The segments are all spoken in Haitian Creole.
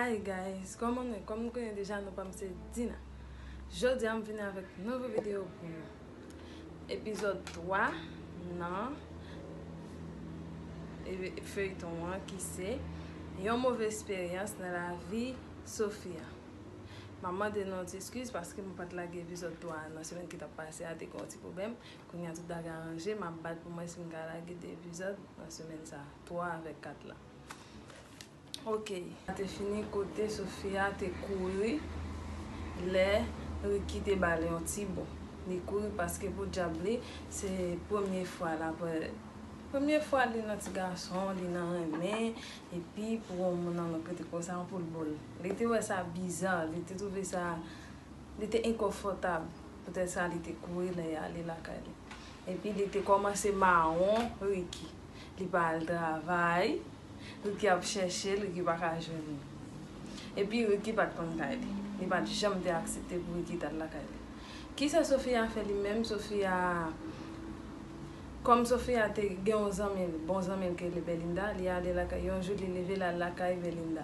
Hi guys kòman nou ye kòm nou konnen deja nou pam se Dina jodi a m vini avèk nouvo video pou nou epizòd 3 nan feyton an ki se yon move esperyans nan lavi Sofia m ap mande nou yon ti eskiz paske m pat lage epizòd 3 nan semèn ki tap pase a te gen yon ti pwoblèm Kounya tout bagay aranje map bat pou mwen sim ka lage 2 epizòd nan semèn sa, 3 avèk 4 la ok. Sa te fini kote Sofia te kouri lè Ricky te bal yon ti bo li kouri paske podyab li se premye fwa l ap premye fwa li nan ti gason li nan renmen epi pou yon moun anlòt kote konsa anpoul bo l li te wè sa bizar li te twouve sa Li te enkonfòtab, poutèt sa li te kouri lè y ale lakay li. Epi li te kòmanse mawon Riki. Li pa al travay, Riki ap chèche l, Riki pa ka jwenn li. Epi Riki pa t konn kay li. Li pa t janm te aksepte pou Riki t al lakay li. Ki sa Sofia fè li menm? Sofia, kòm Sofia te gen yon zanmi l, bon zanmi l ki rele Belinda, li ale lakay. Yon jou li leve l al lakay Belinda.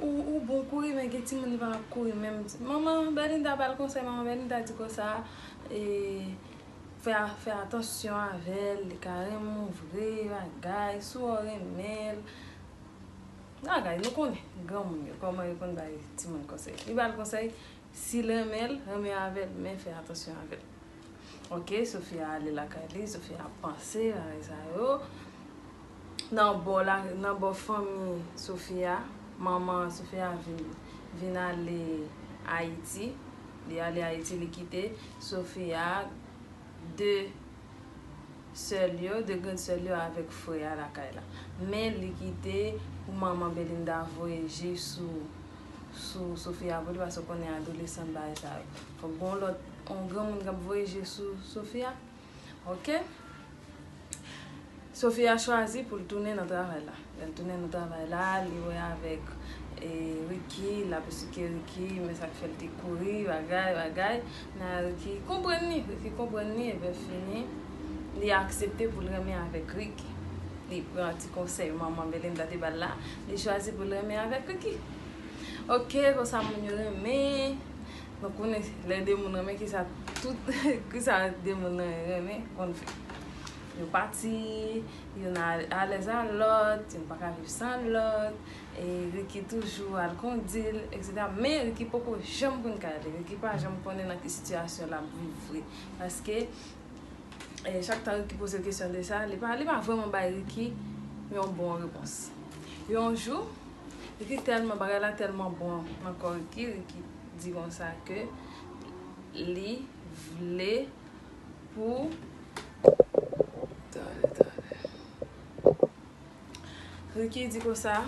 Ou bon kouri men gen timoun li pa ap kouri menm manman Bernita bal konsèy manman Bernita di konsa fè atansyon avèl li ka renmen w vre bagay si w renmen l bagay nou konnen granmoun yo kòman yo konn bay timoun konsèy li bal konsèy si l renmen l renmen avèl men fè atansyon avèl. Ok Sofia ale lakay li Sofia ap panse bagay sa yo Nan bò la nan bò fanmi Sofia manman Sofia vin vin ale Ayiti li ale Ayiti li kite Sofia 2 sè l yo 2 grand sè l yo avèk frè a lakay la men li kite pou manman Belinda voye je sou sou Sofia vre li paske w konnen adolesan bagay sa yo fòk gon lòt Yon granmoun kap voye je sou Sofia ok Sofia chwazi pou l tounen nan travay la lè l tounen nan travay la li wè avèk Ricky lap esplike Ricky men sak fè l te kouri bagay bagay nan Ricky konprann li Ricky konprann li epi fini li aksepte pou l renmen avèk Ricky li pran ti konsèy manman Belinda te bal la li chwazi pou l renmen avèk Ricky ok konsa moun yo renmen Nou konnen lè de moun renmen kisa tout kisa de moun nan renmen konn fè. Yo pati, youn alèz a lòt, youn pa ka viv san lòt, e Ricky toujou al kondi l, eksetera. Men Ricky poko janm konn kay li, Ricky pa janm konnen nan ki sitiyasyon l ap viv vre. Paske chak tan Ricky poze l kesyon de sa, li pa li pa vrèman bay Ricky yon bon repons. Yon jou, Ricky tèlman bagay la tèlman bon nan kò Ricky, Ricky. di konsa ke li vle pou Tande tande Ricky di konsa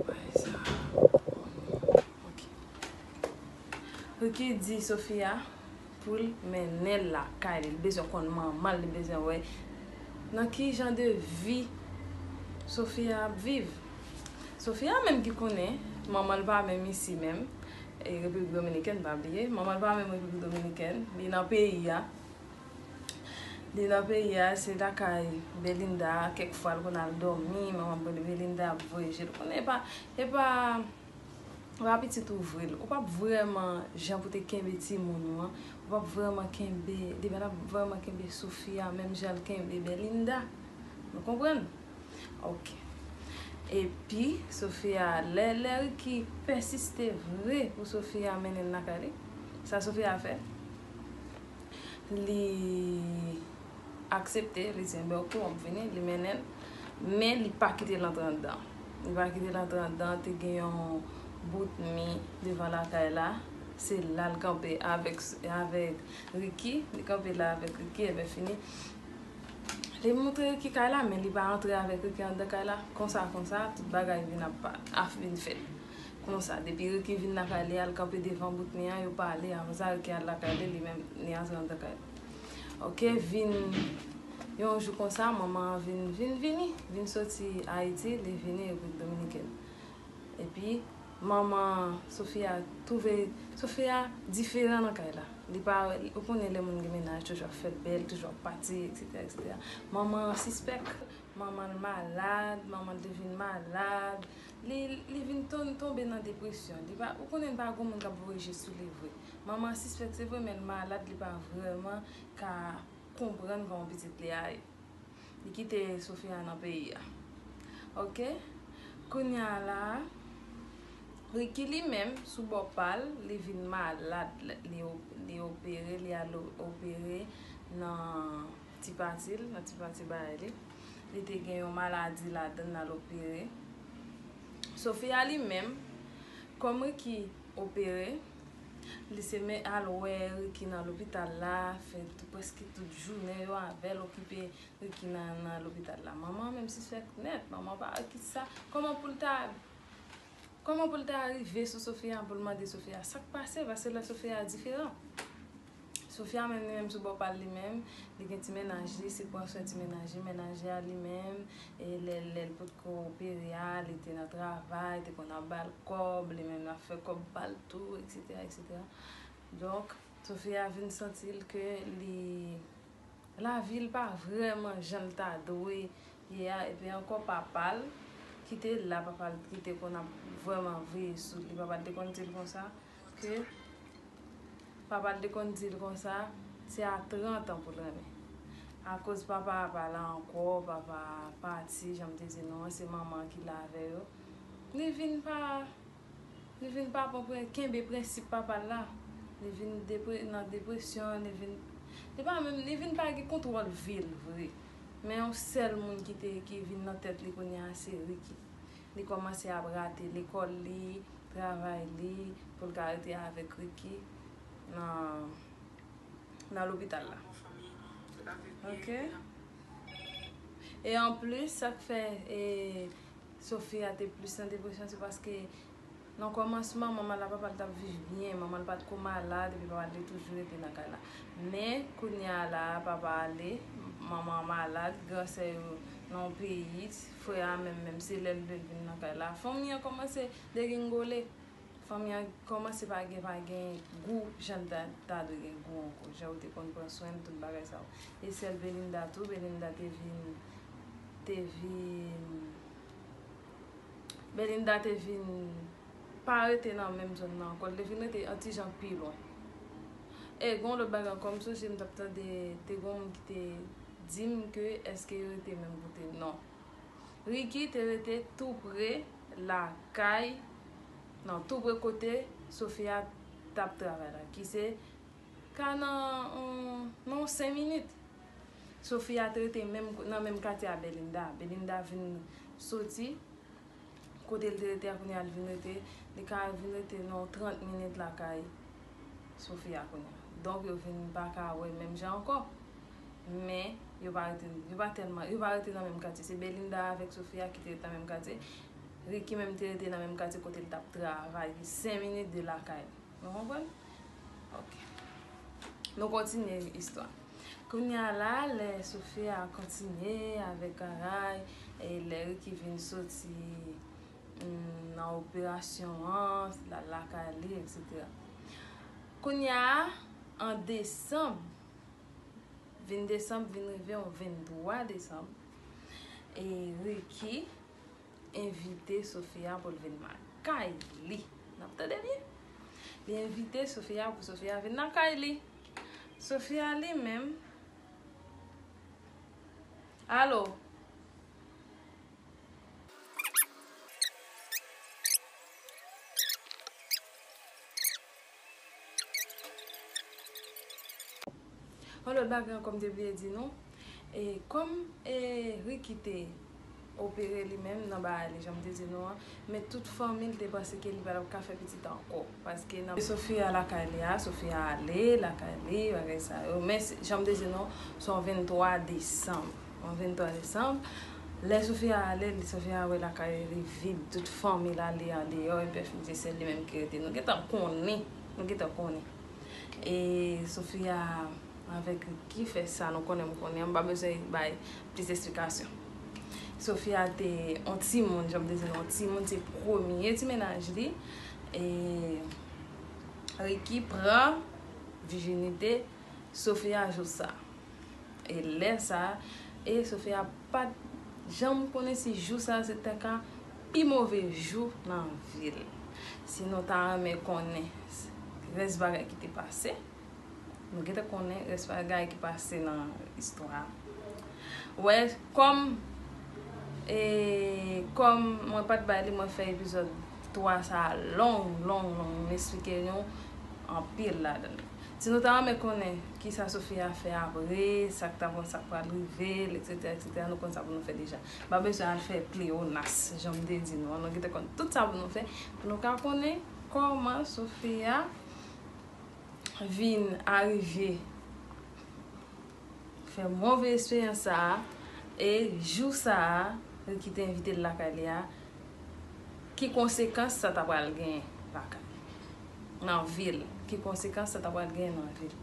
Bagay sa bon ok Ricky di Sofia Poul mennenl lakay li. Li bezwen konn manmanl, li bezwen wè nan ki jan de vi Sofia ap viv. Sofia menm ki konnen manmanl pa menm isi menm, e Repiblik Dominikèn pa bliye. Manmanl pa menm Repiblik Dominikèn, li nan peyi a. Li nan peyi a, se lakay Belinda, kèk fwa l konn al dòmi, manman Belinda ap voye jel. Konnen e pa, e pa. Ou pa pitit ou vre, ou pap vrèman jan pou te kenbe timoun ou an, ou pap vrèman kenbe, li pa tap vrèman kenbe Sofia menm jan l kenbe Belinda. Nou konprann? Ok. Epi, Sofia, lè, lè Ricky pèsiste vre pou Sofia mennen l lakay li, sa Sofia fè? Li. aksepte, li di enben ok wap vini, li mennenl, men li pa kitel antre andan, li pa kitel antre andan, te gen yon bout mi devan lakay la, se lal kanpe avèk avèk Ricky, li kanpe la avèk Ricky enben fini, li montre Ricky kay la men li pa antre avèk Ricky andan kay la, konsa konsa tout bagay vin ap pa, ap vin fèt, konsa depi Ricky vin lakay li al kanpe devan bout mi an yo pale, aprèsa Ricky al lakay li li menm li antre andan kay li. Ok vin yon jou konsa manman an vin vin vini vin soti ayiti li vini repiblik dominikèn epi manman sofia twouve sofia diferan nan kay la li pa ou konnen lè moun gen mennaj toujou ap fè bèl toujou ap pati eksetera eksetera manman an sispèk Manman l malad, manman l te vin malad, li li vin ton tonbe nan depresyon, li pa ou konnen pa gon moun kap voye je sou li vre, manman an sispèk se vre men l malad li pa vrèman ka konprann kòman pitit li a ye, li kite Sofia nan peyi a ok, kounya la Ricky li menm sou bò pa l li vin malad li opere li al opere nan. Ti pati l, nan ti pati bagay li. Li te gen yon maladi ladan l al opere. Sofia li menm, kòm Ricky opere, li se men al wè Ricky nan lopital la, fè prèske tout jounen yo avè l, okipe Ricky nan lopital la. Manman menm sispèk nèt, manman pa wè kisa, kòman pou l ta, kòman pou l ta rive sou Sofia pou l mande Sofia sa k pase, paske lè Sofia diferan. Sofia menm li menm sou bò pal li menm li gen ti mennaj li se pran swen ti mennaj li mennaj li a li menm lèl lèl potko opere a li te nan travay te konn ap bal kòb li menm lap fè kòb pal tou etc etc donk Sofia vin santil ke li lavil pa vrèman janl ta dwe ye a epi ankò papal kite la papal kite konn ap vrèman veye sou li papal te konn dil konsa. Paske papa l te konn di l konsa, se a 30 an pou l renmen. Akoz papa a pa la ankò, papa a pati, jan m te di nou an, se manman an ki la avè yo, li vin pa, li vin pa pran pren, kenbe prensip papa l la. Li vin depre, nan depresyon, li vin, li pa menm, li vin pa gen kontwòl vi l vre. Men yon sèl moun ki te, ki vin nan tèt li kounye a se Ricky. Li kòmanse ap rate lekòl li, travay li pou l ka rete avèk Ricky nan lopital la. Ok. E anplis sa k fè Sofia te plis nan depresyon se paske Nan kòmansman, manman l ak papa l t ap viv byen. Manman l pa t ko malad epi papa l te toujou rete nan kay la. Men, kounye a la a, papa ale, manman an malad, gran sè yo nan yon peyi, frè a menm menm se lè l vle l vin nan kay la. Fanmi an kòmanse degringole. Fanmi an kòmanse pa gen pa gen gou jan l ta dwe gen gou ankò, jan yo te konn pran swen l, tout bagay sa yo. E sè l Belinda tou, Belinda te vin, te vin. Belinda te vin pa rete nan menm zòn nan ankò, li te vin rete yon ti jan pi lwen. E gen yon lòt bagay ankò, m sonje m t ap tande, te gen yon moun ki te di m ke èske yo rete menm kote, non. Ricky te rete tou pre lakay, non, tou pre kote Sofia t ap travay la, ki se. Ka nan yon 5 minit. Sofia te rete nan menm katye a Belinda. Belinda vin soti kote li te rete a kounye a li vin rete. Li ka vin rete nan yon 30 minit lakay Sofia kounye a. Donk yo vin pa ka wè menm jan ankò. Men, yo pa rete, yo pa tèlman, yo pa rete nan menm katye. Se Belinda avèk Sofia ki te rete nan menm katye. Ricky menm te rete nan menm katye kote li t ap travay ki 5 minit de lakay li. Nou konprann? Ok. Nou kontinye istwa. Kounye a la, lè Sofia kontinye avèk Caray, e lè Ricky vin soti nan operasyon an, l al lakay li, eksetera. Kounye a, an desanm, 20 desanm vin rive yon 23 desanm, e Ricky envite Sofia pou l vin lakay li. N ap tande byen? Li envite Sofia pou Sofia vin lakay li. Sofia li menm. Alo? Yon lòt bagay ankò m te bliye di nou, e kòm e Ricky te opere li menm nan baay li jan m te di nou an, men tout fanmi l te panse ke li pa t ap ka fè pitit ankò, paske nan Sofia lakay li a, Sofia ale lakay li, bagay sa yo, men jan m te di nou, se yon 23 desanm. On 23 desanm, lè Sofia ale, Sofia wè lakay li vid, tout fanmi l ale andeyò, epi fini se sèl li menm ki rete. Nou gentan konnen, nou gentan konnen. E Sofia avèk Ricky fè sa nou konnen, m konnen, m pa bezwen bay plis esplikasyon. Sofia te on timoun, jan m te di nou, on timoun se premye ti mennaj li. E Ricky pran vijinite Sofia jou sa. E lè sa, e Sofia pat janm konnen si jou sa se te ka pi move jou nan vi l. Si nou ta renmen konnen rès bagay ki te pase, nou gentan konnen rès bagay ki pase nan istwa a. Wè, kòm e kòm mwen pat bay li mwen fè epizòd 3 sa long long long m esplike nou anpil ladan l. Si nou ta renmen konnen kisa Sofia fè apre, sak ta bon sak pral rivel etc etc nou konn sa pou nou fè deja nou pa bezwen al fè pleyonas janm te di nou an nou gentan konn tout sa pou nou fè pou nou ka konnen kòman Sofia vin arive fè move esperyans sa e jou sa li kite envitel lakay li a Ki konsekans sa ta pral genyen lakay nan vil ki konsekans sa ta pral genyen nan vil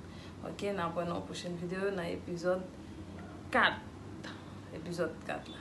ok nan pran nan yon pwochèn video nan epizòd 4 epizòd 4 la.